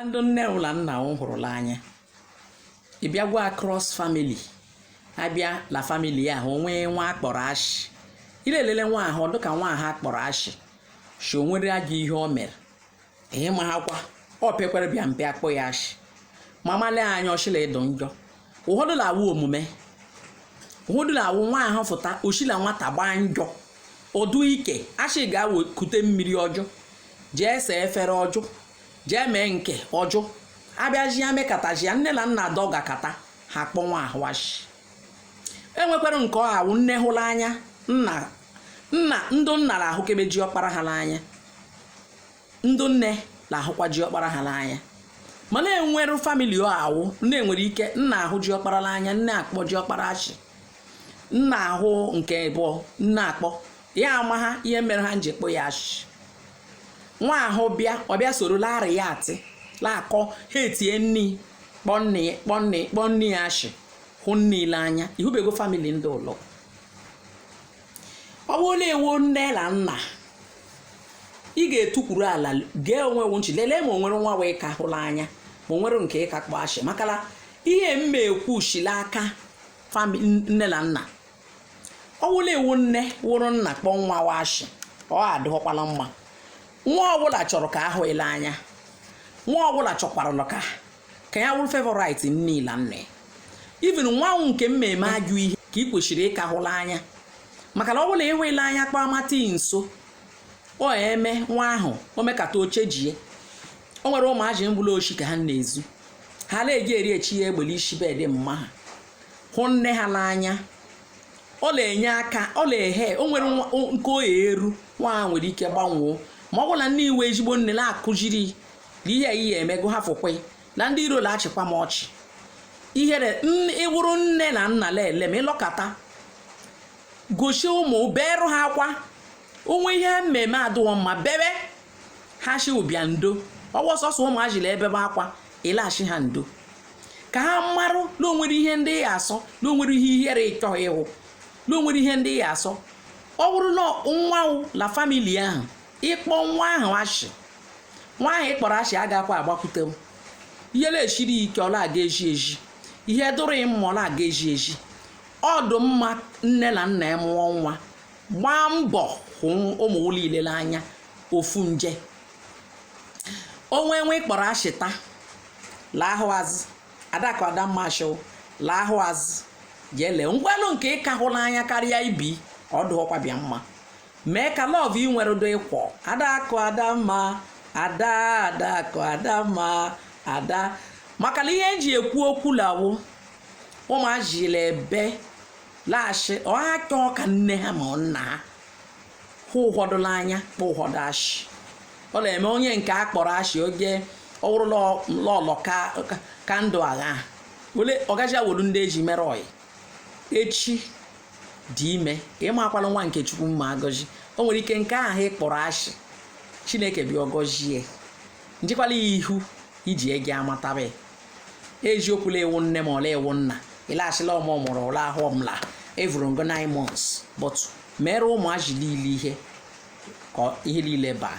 ndị nne wu la nna wu hụrụ la anya ị bịa gwa cross family abịa la family ahụ e nwee nwa a kpọrọ ashị ị la-elele nwa ahụ dịka nwa ahụ a kpọrọ ashị shị onwere gị ihe o mere ihe ma ha kwa ọ pekwere bịa mpe akpọ ya ashị ma malee anya o shi la ịdụ njọ ụfọdụ na-awụ omume ụfọdụ na-awụ nwa ahụ fụta o shi la nwata gbaa njọ ọ dụ ike a shị gawa kute mmiri ọ jụ jee see efere ọ jụ jee mee nke ọ jụ abịaji ya mekataji ya nne la nna dọgakata ha kpọ nwa ahụ ashị enwekwara nke ọ awụ nne hụrụ anya nna nna ndụ nna na-ahụkebe ji ọkpara ha n'anya ndụ nne na-ahụkwa ji ọkpara ha n'anya mana e nwere famili ọ awụ na-enwere ike nna ahụ ji ọkpara n'anya nne akpọ ji ọkpara ashị nna ahụ nke abụọ nna akpọ ya amagha ihe mere ha nji kpọ ya ashị nwa ahụ bịa ọ bịa soro larị ya atị laakọ hetie nne ya kpọ nne ya ashị hụ nna ya la anya ị hụbego famili ndị ụlọ ọ bụrụ la ị wụ nne la nna ị ga-etukwuru ala gee onwe wu nchi lelee ma o nwere nwa wu ị ka hụ la anya ma o nwere nke ị ka kpọ ashị maka la ihe m ekwu shi la aka nne la nna ọ wụ la ị wụ nne wụrụ nna kpọ nwa wu ashị ọ adịghọkwala mma nwa ọbụla chọrọ ka a hụ ya la anya nwa ọbụla chọkwara ka ka ya wụrụ favorite nne ya la nna ya even nwa wu nke mmeme ajọ ihe ka ị kwesịrị ịka hụ la anya maka na ọ bụ la ị hụ ya la anya kpọmata ya nso ọ eme nwa ahụ o mekata o chenjie o nwere ụmụaji mgbụla oshi ka ha na-ezu ha na-eji eri echi ya egbe la isi but ma ha hụ nne ha n'anya ọ na-enye aka ọ na-ehe o nwere nwa- o- nke o ya eru nwa ahụ nwere ike gbanwoo ma ọ bụrụ na nne ya wụ ezigbo nne na-akụziri na ihe a ihe emego ha fụkwe na ndị iro na-achịkwa m ọchị ihere n- ị wụrụ nne la nna lele ma ị lọkata gosi ụmụ beerụ ha akwa o nwee ihe ha mmeme adịghọ mma bebe ha shị wu bịa ndo ọ wụ sọsọ ụmụajị la-ebebe akwa ị la-ashị ha ndo ka ha marụ na o nwere ihe ndị ị ya-asọ na o nwere ihe ihere ị chọghị ịhụ na o nwere ihe ndị ị ya-asọ ọ bụrụ na nwa wu la famili ahụ ị kpọ nwa ahụ ashị nwa ahụ ị kpọrọ ashị agakwa agbakwute m ihe na-eshiri ike ọ la-aga ezi ezi ihe dụrụ mma ọ la-aga ezi ezi ọ dụ mma nne la nna ị mụọ nwa gbaa mbọ hụ ụmụ wu niile n'anya ofu nje o nwee nwa ị kpọrọ ashị taa laahụ azụ adakụ adamma shị laahụ azụ jee lee ngwanụ nke ị ka hụ n'anya karịa ibe ọ dụ ọkwa bịa mma mee ka lọv ị nwere dụ equal adakụ adamma ada adakụ adamma ada maka na ihe e ji ekwu okwu la wụ ụmụazị la ebe la-ashị ọha chọọ ka nne ha ma ọ nna ha hụ ụfọdụ n'anya kpọ ụfọdụ ashị ọ na-eme onye nke a kpọrọ ashị oge ọ wụrụ lọlọ ka ndụ agha wele ọgaji awolu ndị e ji mere ọyị echi dị ime ị maakwala nwa nke chukwu ma agọzi o nwere ike nke ahụ ị kpọrọ ashị chineke bịa agọzie njikwala ya ihu ị ji eje amataba eziokwu la ị wụ nne ma ọ la ị wụ nna ị la-ashị la ọ mụ mụrụ ụlọ ahụ ọ m la-evuru ngo 9 months but meere ụmụazị niile ihe ka ihe niile baa